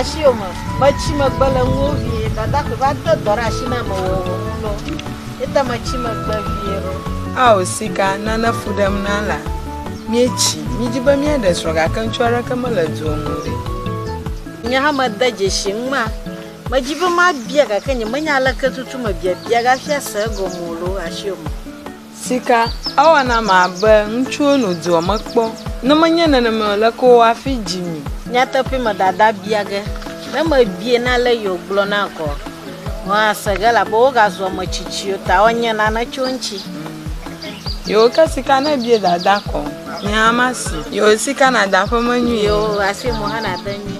asi o me metsi megbe le ŋuwo vie dada ƒe va de dɔ ɖe asi na me wɔ wɔ ŋu lɔ ete metsi megbe vie ɖo. ao sika nane fu ɖem na la míetsi mídzi be míaɖe srɔ̃ gake ŋutsu aɖeke mele dua me o ɖe. nye hã mede dzesi ŋu ma Medi be mabia gake nyemenya aleke tutu me biabia gafia se egɔme o loo asi o me. Sika, Ewa nam abe ŋutsuwo no dua me kpɔ. Ne menye nenemae o, leke wowɔ afi dzi mi? Nyateƒee me dada bia ge ne mebie na ale yi wogblɔ na gɔ hɔa se ge elabe wogazu ame tsitsiwo ta wonye nane tso eŋuti. Yewo ke sika ne bie dada kɔ. Nye hã ma si. Yewo sika na da ƒe menyui. Yewo asi mo hã na te nyui.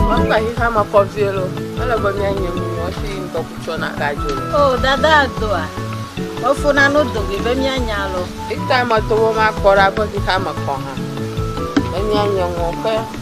Mekpa hi hã ma kɔ vie lo. Ele be mia nye mu mo si ŋdɔ kutsɔ na ka jo. Oh dada doa. Mefo na no do be mia nya lo. Ita ma to wo ma kɔ ra be hi hã ma kɔ hã. Mia nye mo ke.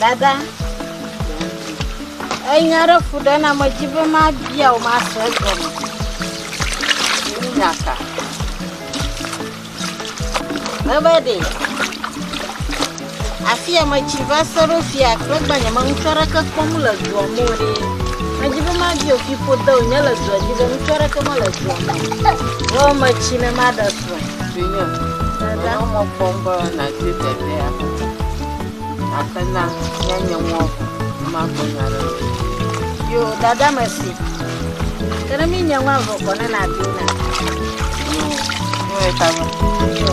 dada enya aɖe ku ɖe na medzi be mabia o masrɔ egɔme nyaka Ebe ɖe afi ya metsi va se ɖo fia kple gbanye me ŋutsu aɖeke kpɔm le dua me o ɖe. Medi be madi o fiƒode o nye le dua dzi be ŋutsu aɖeke mele dua me. Wo metsi ne maɖe srɔ̃. Vinye, menɔ mɔ kpɔm be nàdi ɖevia. Abena míanye ŋuɔ vɔ magblɔ nya ɖe o. Yo, dada mesi. Ke ne mí nye ŋua vɔ kɔ ne na bi na. Yo, yo eta yo. Yo.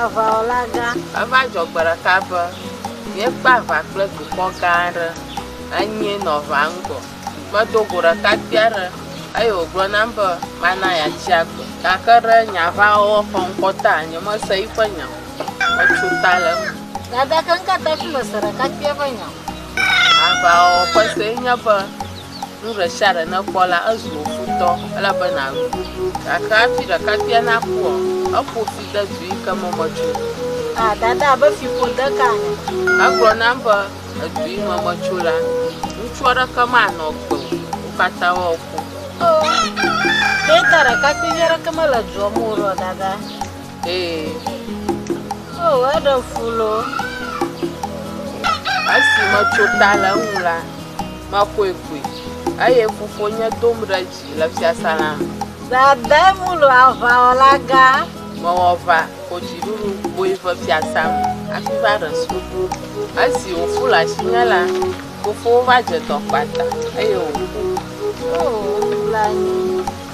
Aʋawɔla gã. Eva dzɔ gbe ɖeka be, míekpe aʋa kple dukɔ gã aɖe. Enyee nɔ aʋaa ŋgɔ. Medo go ɖekakpui aɖe eye wògblɔ nam be mana yeatsi agbe. Gake ɖe nye aʋawɔwɔ ƒe ŋkɔ ta, nyemese eƒe nya o. Metso ta le eme. Gake ŋkeke hafi mese ɖekakpuia ƒe nya o. Aʋawɔwɔ ƒe see nye be. Nu ɖe sia ɖe nèkpɔ la, ezu wò futɔ, ele be nàɖu. Gake hafi ɖekakpuia nakuɔ, eƒo fi de du yi ke me metso. A Dada be fiƒode ka ame. Egblɔ nam be, Edu yi me metso la, ŋutsu aɖeke manɔ agbe o, wo katã woaku. Oo, ɖe te ɖekakpuivi aɖeke mele dua me o ɖo, Dada? Ee, oo, eɖe fu loo. Esi metso ta le eŋu la, mexɔe koe, eye fofonye dom ɖe dzi le fiasã la me. Dade mu lo aʋawɔlagã. Mewɔ va ko dziɖuɖu kpoe ve fiasã me hafi va ɖe srɔ̃. Esi wòfu le asinye la, fofowò va dze dɔ kpata, eye wòku. Oo, nublanui.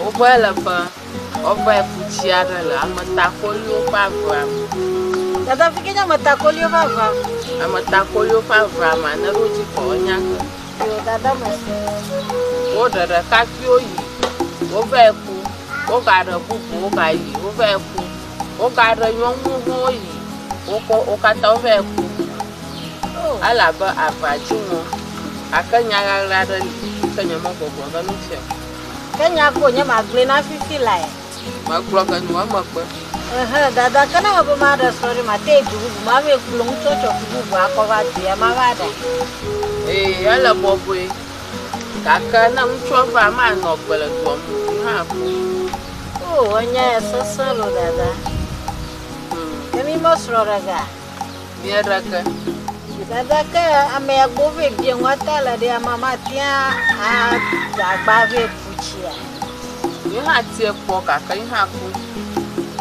Wovɔe le be woavae ku tsi aɖe le ametakoliwo ƒe avea me. Dada vi ke nye ametakoliwo ƒe avea me. Ametakoliwo ƒe avea me ne ɖo dzi kɔ nya ke. Yo dada me. Woɖe ɖekakpuiwo yi wovae ku. Wogaɖe bubuwo gayi wovae ku. Wogaɖe nyɔnuwo hã woyi wokɔ wo katã wovae ku. Elabe avea dzi ŋɔ gake nya ɣaɣla aɖe li ke nyemegbɔgblɔ ɖe eŋuti o. Ke nya ko nye magblɔe na fifi lae. Magblɔ ke nu eme kpe. Ehe, dada, ke ne ebe maɖe srɔ̃ ɖe, mate yi du bubu ma vɛ kplɔ ŋutsu tsɔ ku bubu akɔ va dua ma va ɖe. Ee, ele bɔbɔe. Gake ne ŋutsua va, manɔ agbe le dua me ŋdi hã kpɔ. Oo, enya ya sesẽ lo, dada. Ke mi me srɔ̃ ɖe ga. Mia ɖake. Dada ke amea gbɔ vɛ bia ŋua ta le ɖe ama ma tia a dagba vɛ putsia. Ye ha tie kpɔ kaka ye ha ku.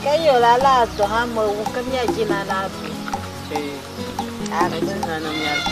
Ke yo la la do ha me wu ke mia jina na bi. Eh. Agbe jina na mia bi.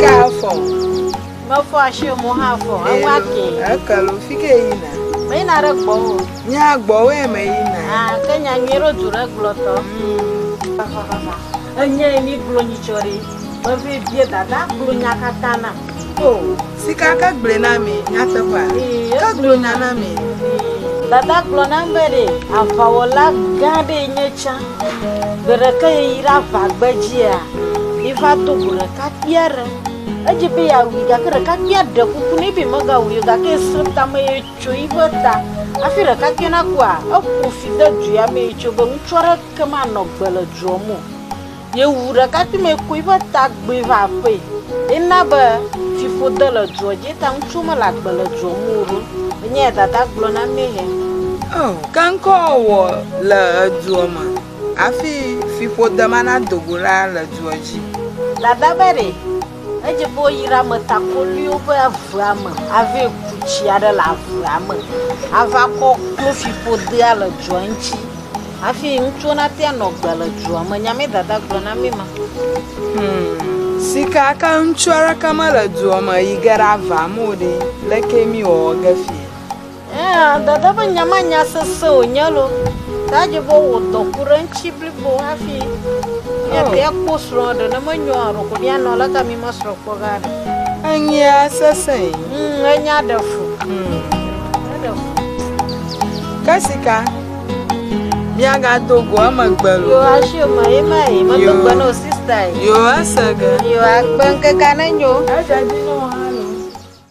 Ka afɔ. Mefɔ asi o, mo hã fɔ. Eŋu ake. Eke lo, fi ke yina. Me yina ɖe gbɔwò. Nya gbɔwòe me yina. Ah, ke nya nyui ɖo du ɖe gblɔtɔ. Enye mi gblɔ nyitsɔ ɖi. Mevi bie dada gblɔ nya katã nam. Oh. Sika ke gblɔe na mi nyateƒea? Ke gblɔ nya na mi. Dada gblɔ nam be ɖe aʋawɔla gã ɖee nye tsã. Gbe ɖeke yi ɖe aʋa gbedzia, yi va do go ɖekakpui aɖe. Edze be yeawui gake ɖekakpuia ɖe kuku nɛ be megawui o gake esẽ tame ye tso yiƒe ta. Hafi ɖekakpuia nakua, eƒo fi de dua me ye tso be ŋutsu aɖeke manɔ agbe le dua me o. Yewu ɖekakpuimɛ koe ƒe tagbe va aƒee. Ena be fiƒode le dua dzi eta ŋutsuwo mele agbe le dua me o ɖo. Enye ya dada gblɔ na mɛ hɛ. O, ke ŋkɔ wɔ le edua me hafi fiƒode ma nado go la le dua dzi. Dada be ɖe. Edze be woyra ame takoliwo be avea me ave ku tsi aɖe le avea me ava kɔ klofiƒodea le dzoa ŋuti hafi ŋutsuwo nate anɔ agbe le dzoa me. Nyamee dada gblɔ na mí ma. Sika ke ŋutsu aɖeke mele dua me yi ge ɖe avea me o ɖe, leke míwɔwɔ ge fiɛ? Eya dada ƒe nya ma nya sese wònye lo. Ta dze be wò dɔ ku ɖe ŋuti blibo hafi nye ɖe akpɔ srɔ̃ ɖe ne menyo alo ko mianɔ le ka mi mesrɔ̃ kpɔ ga ɖe. Enyia sese. Mm, enya ɖe fu. Mm. Eɖe fu. Ke sika miagado go emegbe lo. Yo asi me ye ma ye medo gbe na o sista ye. Yo ese ge. Yo akpe ŋkeke nenyo. Eja dzi nɔ hã.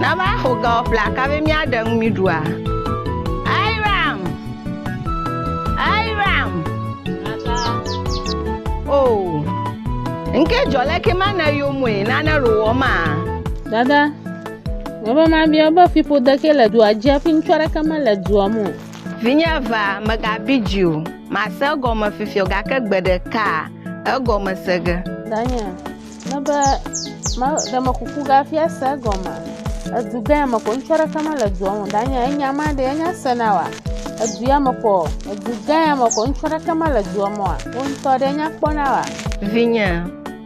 Nava xo ga wɔ ƒle aka be míaɖe nu mí ɖua. Airam! Airam! O! Ŋke jɔ le ke ma ne yo moe nane ro wɔ ma. Dada, me be ma bia be fi ƒode ke le dua dzi afi ŋutsu aɖeke me le dua mo. Vinye va, megabi dzi o. Mase egɔme fifiɔ gake gbe ɖeka egɔme se ge. Daniel, Ne be ma ɖe me kuku gafia se gɔma. Edu gã me ko ŋutsu aɖeke ma le dua me danye enya ma ɖe enya se na wa. Edu ya me ko edu gã ya me ko ŋutsu aɖeke ma le dua me wa. Wo ŋutɔ ɖe enya kpɔ na wa. Vinye,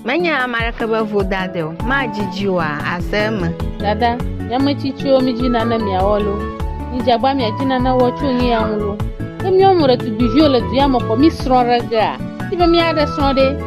menye ame aɖeke be vodade o. Madzidzi wa ase eme. Dada, mi ame tsitsiwo midzi nane miawɔ lo. Midzagba miadzi nane wɔ tso nu ya ŋu lo. Ne miawo mu ɖetugbiviwo le du ya me ko mi srɔ̃ ɖe gea, mi be miaɖe srɔ̃ ɖe.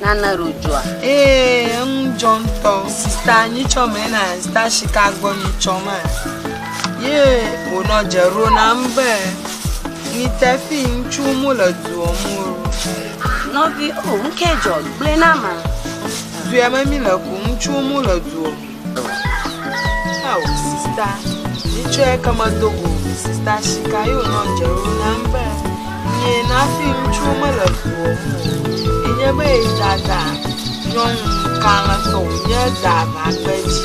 Nane ɖo dzoa? Ee, eŋu dzɔ ŋutɔ. Sista nyitsɔ me na sista shika gbɔ nyitsɔ ma. Ye wònɔ dze ɖo nam be ni tefi ŋutsu mu le duɔ mu ro. Nɔvi, o, ŋkɛ dzɔ, gblɔe na ma. Duɛ me mi le ku ŋutsu mu le duɔ mu. Ao sista, mitsɔe ke medo go o. Sista Shika yɔ nyɔdze ɖo nam be, Nye nafi ŋutsuwo mele ʋuɔ ŋu o. Enye be yi dada nyɔnu kalẽtɔ wònye da aʋagbe dzi.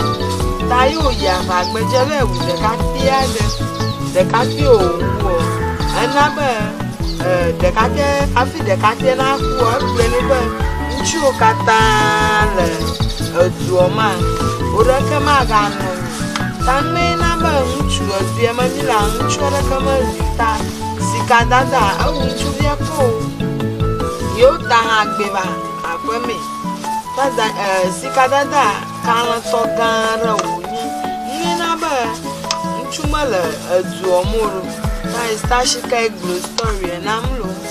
Ta yi wòyi aʋagbe dzi eva yi wu ɖekakpui aɖe. Ɖekakpui wòwu ɔ, ena be e ɖekakpuia hafi ɖekakpuia nakua, egblɔe nɛ be Ŋutsuwo katã le edua me, wo ɖeke maganɔ anyi. Ta mee na be ŋutsu evea meli la, ŋutsu aɖeke meli ta sika dada ewu ŋutsuvia kpɔ o. Yewo ta hã gbe va aƒe mee. Dada e sika dada kalẽtɔ gã aɖe wonye. Ye na be ŋutsu mele edua me o. Tayi ta shika egblɔ story na mlo.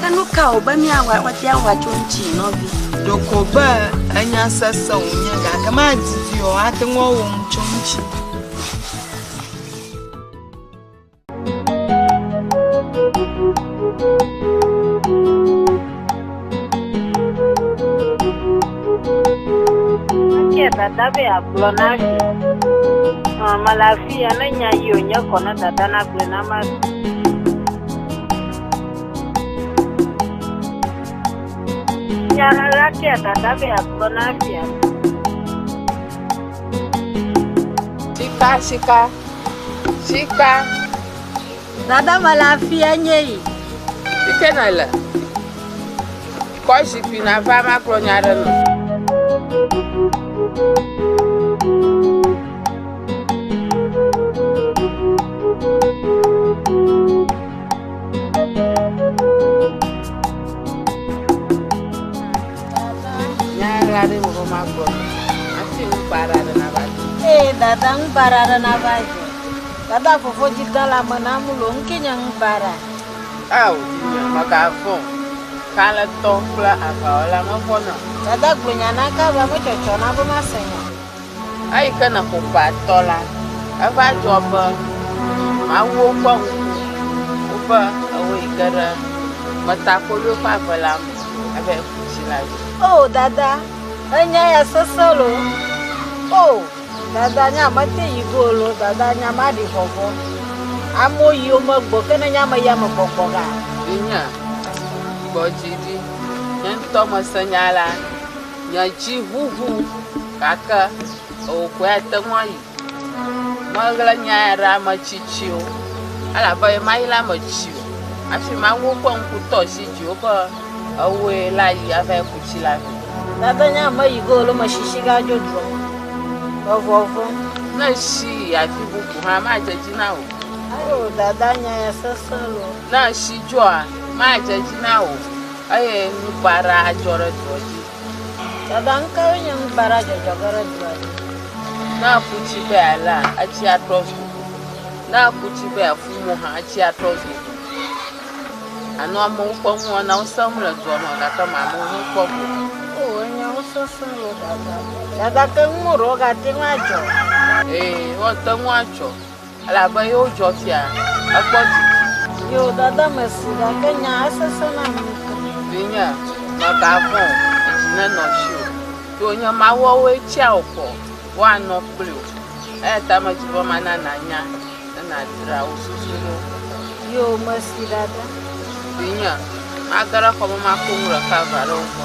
Ke nu ka wòbe míawɔ woate ŋu atso eŋuti, nɔvi? Ɖeko be enya sesẽ wònye, gake madidi o, ate ŋu awɔ nu tso eŋuti. dada be agblɔ na vi mele afi ya ne nya yi wònye kɔ ne dada nagblɔe na ma Nya la fia dada be agblɔ na fia. Sika, sika, sika. Dada me la fia nye yi. Ike na le. Kɔ zikpui na va ma kplɔ nya ɖe nɔ. dada ŋu bara aɖe nava dze. Dada fofo dzi gã la me na mu lo ŋke nye ŋu bara. Ao, nye megavɔ̃. Kalẽtɔ kple aʋawɔla mevɔ̃na. Dada gblɔ nya na ka be metsɔtsɔ na be masẽ nya. Eyi ke ne ƒoƒea tɔ la, eva dzɔ be mawuwo kpɔ ŋku woƒe ewo yi ge ɖe metakoɖoe ƒe ave la me ebe yeku tsi la dzi. O dada, enya ya sese lo. O dada, nya mete yi go lo. Dada, nya ma ɖi vɔvɔ. Amo yi o me gbɔ, ke ne nya me ya me gbɔgbɔ ga. Vinye, gbɔ dzi ɖi. Nye ŋutɔ mese nya la. Nye dzi ʋuʋu gake ewò koe ate ŋu ayi. Meɣla nya ya ɖe ame tsitsiwo elabe yemayi ɖe eme tsi o hafi mawu woƒe ŋku tɔ asi dziwò be ewòe la yi ava ku tsi la vɛ. Gake nye ame yi ke wòle eme tsitsi gadzo dua me le vɔvɔ̃m. Ne èsi yi afi bubu hã, madze dzi na wò. Eo dada nya ya sesẽ loo. Ne èsi dzoa, madze dzi na wò. Eye nubaɖa adzɔ ɖe dua dzi. Dada nukawoe nye nubaɖa dzɔdzɔge ɖe dua dzi? Ne aku tsi be yealea, etsi atrɔ zu ʋu. Ne aku tsi be yeafu mo hã, etsi atrɔ zu ʋu. Ànɔ amewo ƒe nuwɔnawo sem le dua me gake mànɔ wo ŋu kpɔm o. Oo, nyawo sesẽ le dada. Dada, ke nuwo ɖewo gate ŋu adzɔ. Ee, woate ŋu adzɔ. Elabe yewo dzɔ fia, ekpɔ didi. Yewo dada me si, gake nyaa esesẽ nam ŋutɔ. Vinye, mègavɔ̃ o, dzi nenɔ dziwò, ɖe wònye mawuawoe tsia wò kɔ woanɔ kpli wò. Eya ta medi be mana nànya ne nàdzra wò susu ɖo. Yewo mesi ɖaɖa. Vinye, mage ɖe xɔ me makoŋ ɖeka va ɖe wo gbɔ.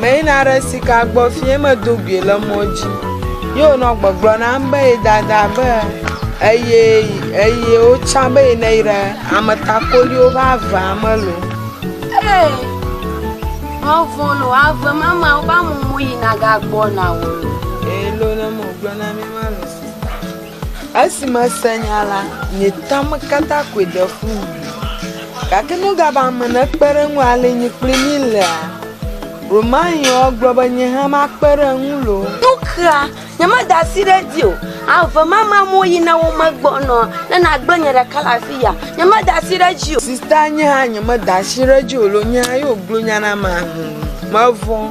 Meyina ɖe sika gbɔ fi ye medo gui le mɔ dzi. Ye wònɔ gbɔgblɔ nam be ye dada be eye eye wotsã be yi ne yi ɖe ametakoliwo ƒe avea me lo. Ee, mevɔ lo ave ma me woƒe amumu yina gagbɔna o lo. Elo ne megblɔ na mi ma lo. Esi mese nya la, nye tame katã koe de fu wu. Gake nu gã ba ame nekpe ɖe eŋu ale nye kple mí lea? Romain gblɔ be nye hã makpe ɖe eŋu loo. Nu ka? Nyemeda asi ɖe edzi o. Ave ma ma mo yi na wo megbɔnɔ ne nagblẽ nye ɖeka le afi ya. Nyemeda asi ɖe edzi o. Sista, nye hã nyemeda asi ɖe edzi o loo. Nye hã ye wògblɔ nya na ma. Mevɔ̃.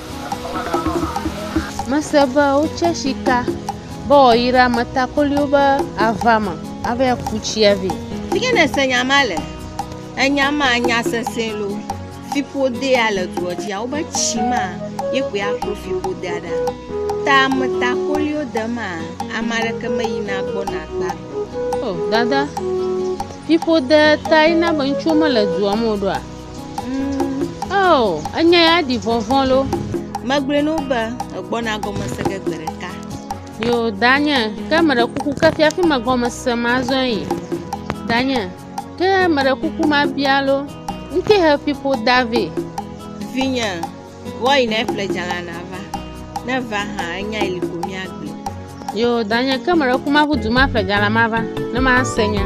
Mese be wotse sika be wòayi ɖe ametakoliwo be ava me ava ku tsia vɛ. Fi ke nèse nya ma le, enya ma nya sesẽ loo. Fiƒodea le dua dzia, wobe tsi ma ye koe aklo fiƒodea ɖa. Ta ametakoliwo de ma, ame aɖeke meyina gbɔna akpa gbe. O, Dada, fiƒodea tae na be ŋutsuwo mele dua me o ɖoa? Oo, enya ya ɖi vɔvɔ̃ lo. Megblɔe na wo be egbɔna gɔme se ge gbe ɖeka. Yo, danye, ke meɖe kuku ke fiafi megɔme se mazɔe yi. Danye, ke meɖe kuku mabia lo, ŋke he fiƒo da vɛ. Vinye, Wɔyi ne eƒle dzala na va. Ne va hã enya ili ko mia gbe. Yo danye ke mele kuma ƒu duma ƒle dzala ma va. Ne ma se nya.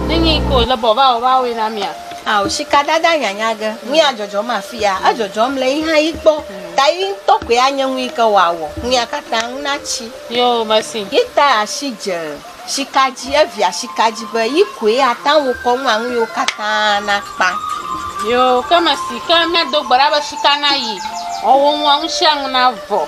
Nenye yi ke wòle be wòava wɔ woawoe na mía. Ao, sikadada nyanya ge nuya dzɔdzɔm afia, edzɔdzɔm le yixa yi gbɔ, ta yi ŋutɔ koe anye nu yi ke wòawɔ nuya katã ŋu natsi. Yo, mesi. Yi ta asi dze sika dzi, evia sika dzi be yi koe ate ŋu akɔ nua nu yiwo katã nakpa. Yo, ke mesi. Ke míado gbe ɖa be sika nayi, wòawɔ nua nu sia nu navɔ.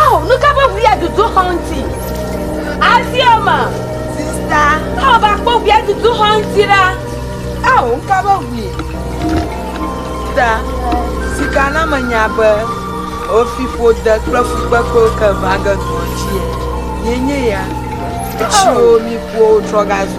Ao, nu ka ƒe ʋu adudu xɔ ŋuti? Asioma. Sista. Ao, va kpɔ ʋu adudu xɔ ŋuti ɖa. Ao, nu ka ƒe ʋui? Sista, sika na menya be wofi ƒode kple fukpekpewo ke va ge dɔa dzi. Yenye ya. Etsiwo mi ƒuwo trɔ gazu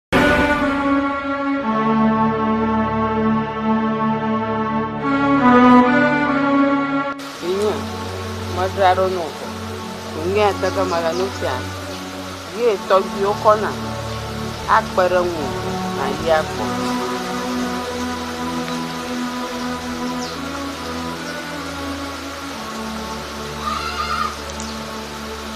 Vinye, medzra ɖo nɔ wò. Vinye ateke mele nu fia. Ye tɔgbiwo kɔ na akpe ɖe ŋu nàyi akpɔ.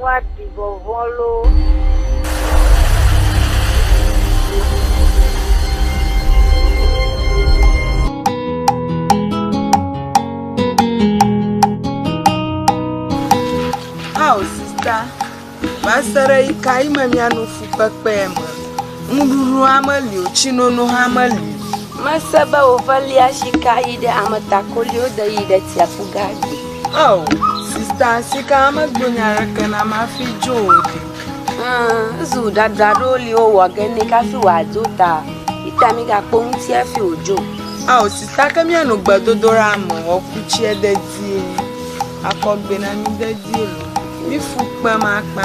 Woaɖi vɔvɔ̃ loo! Ao sista, va se ɖe ɣi ka ɣi me miano fukpekpe me? Nuɖuɖu hã meli o, tsinono hã meli o. Mese be woʋelia sika yi ɖe ametakoliwo de yi ɖe tsiaƒu ga dzi. Oh, sista sika megblɔ nya aɖeke na mafi dzo o ɖi. Zu dada ɖewo li wowɔ ge ne kafi wòadzo ta. Ita mi gakpɔ ŋuti hafi wòdzo. Oh, sista ke mianɔ gbedodoɖa me wɔku tsiɛ dedie. Akɔgbe na mi dedie lo. Mi fu kpem akpa.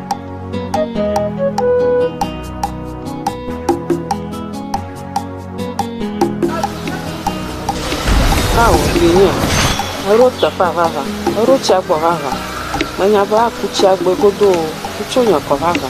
Ao, vinye, eɖo teƒea vava, eɖo tsia gbɔ vava. Menya be aku tsia gbɔe godoo, wotso nye kɔ vava.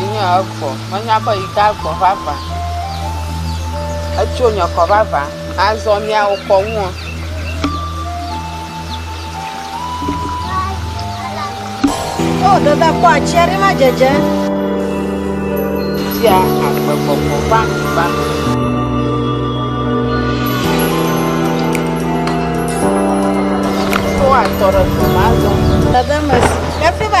Enye egbɔ. Menya be yi de egbɔ vavã. Etso nye kɔ vavã. Azɔ miawo kɔ ŋuɔ. Wo ɖe da kpɔ atsi aɖe ma dzedze. Tia agbe gbɔgbɔ va va. Wo atɔ ɖe gbɔma azɔ. Dada mesi. Efi ba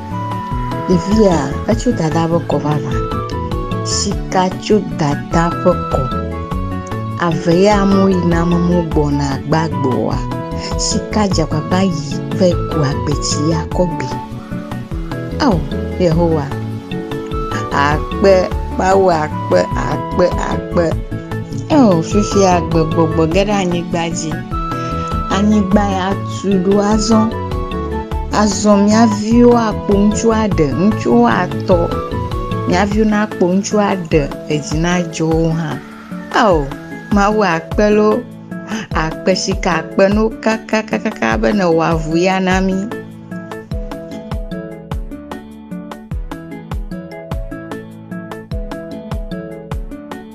Ɖevia, etso dada ƒe kɔ vavã. Sika tso dada ƒe kɔ. Ave ya amewo yi na amewo gbɔna gbagboa. Sika dze agbagba yi ve ku agbetsi ya kɔ gbi. Ao, Yehowa, akpe, Mawu akpe, akpe, akpe. Ao, fifia agbe gbɔgbɔ ge ɖe anyigba dzi. Anyigba ya tu ɖo azɔ. Azɔ mia viwo akpo ŋutsu aɖe, ŋutsuwo atɔ, mia viwo nakpo ŋutsu aɖe, edzi nadzɔ wo hã. Ao, Mawu akpe loo, akpe sika akpe no kakakaka be nèwɔ avu ya na mí.